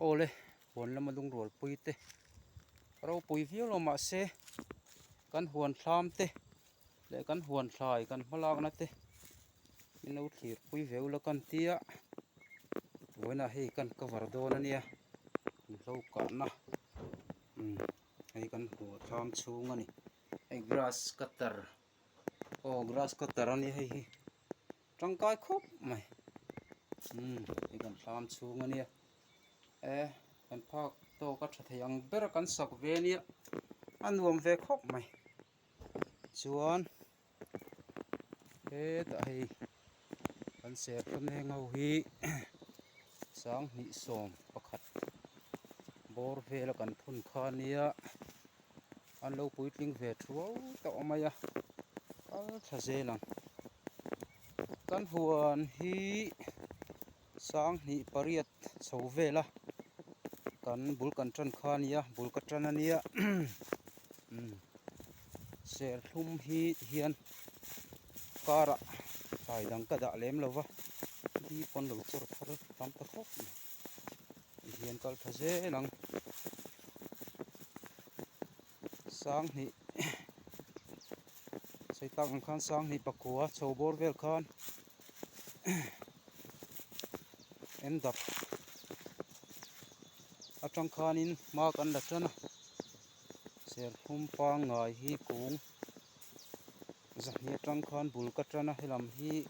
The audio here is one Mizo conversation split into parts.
Awle huan lama lungrual pui te ropui viau lo mah se kan huan thlam te leh kan huan thlai kan hma lakna te i no thlir pui viau la kan tia vawiinah hei kan cover dawn a nia in hlokahna imm hei kan huan thlam chhung a ni hei grass cutter -- aw grass cutter a nia hei hi tangkai khawp mai umm hei kan hlam chhung a nia eh kan phak tawk a tha thei ang ber kan sak ve a nia a nuam ve khawp mai chuan hetah hei kan serthlum heng ho hi sang hnih sawm pakhat bawr vel a kan phun kha a nia. an lo puitling ve thuau tawh mai a kal thla zel ang kan huan hi sanghnih pariat chho vela kan bul kan tan kha a nia bul ka tan a nia serthlum hi ti hian car ah thlai dang ka dah lem lo va mi pawn lo chawr phar tam ta thlawp mai. I hian kal tha zel ang sanghnih sawitlak ang khan sanghnih pakua chho bawr vel khan endap atang khanin mak an la tan a serthlum pangngai hi kung zahni atang khan bul ka tan a helam hi--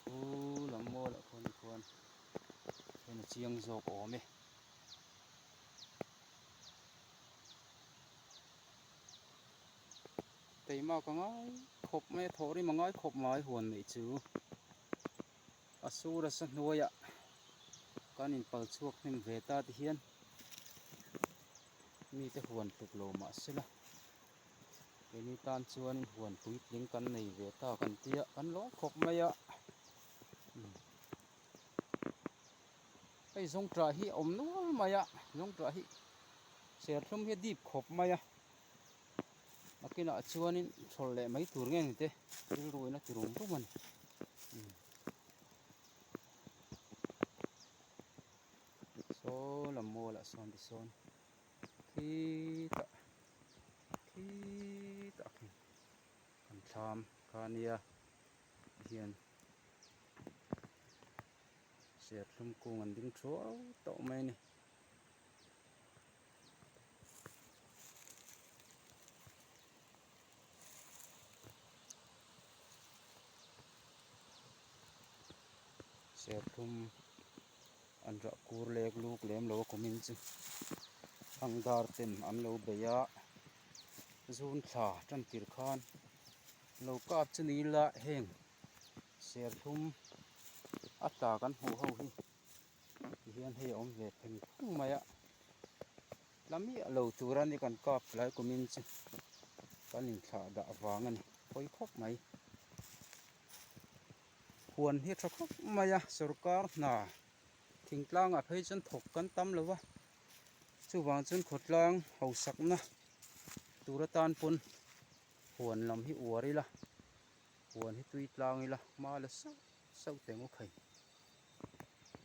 Chu lam maw lah khaw ni khuan hian a chiang zawk awm e. Keima ka ngai khawp mai a thawh rim a ngai khawp mai huan mai chu. A sur a sa hnuai ah kan in pal chhuak hnem ve ta te hian mi te huan tluk lo mah se la. Keini tan chuanin huan puitling kan nei ve ta kan tia kan lawm khawp mai a. Hei zawngṭah hi a awm nual mai a, zawngṭah hi serthlum hi a deep khawp mai a. Nakinah chuanin chhawlh leh mai tur nge ni te rilruin a ti rum rum a ni. Saw lam mall ah sawn tisawn. Khi tah khi tah khi kan thlam kha a nia ti hian serthlum kung an ding thuau tauh mai a ni. Serthlum. An rahkur lek luk lem lo a kumin chu thlang dar ten an lo bei a, zun thla tan tir khan lo kap chu ni ila heng serthlum a tla kan hmuh ho hi ti hian hei a awm ve theng thung mai a, tla miah lo tura ni kan kap tlai kumin chu kan in thlah dah vang a ni, hawi khawp mai. huan hi a tha khawp mai a sorkar hna thing tlang ah phei chuan thawk kan tam lo va chuvang chuan khawtlang hausak na tur atan pawn huan lam hi uar ila huan hi tui tlang ila hma la sauh sauh tengawkhei.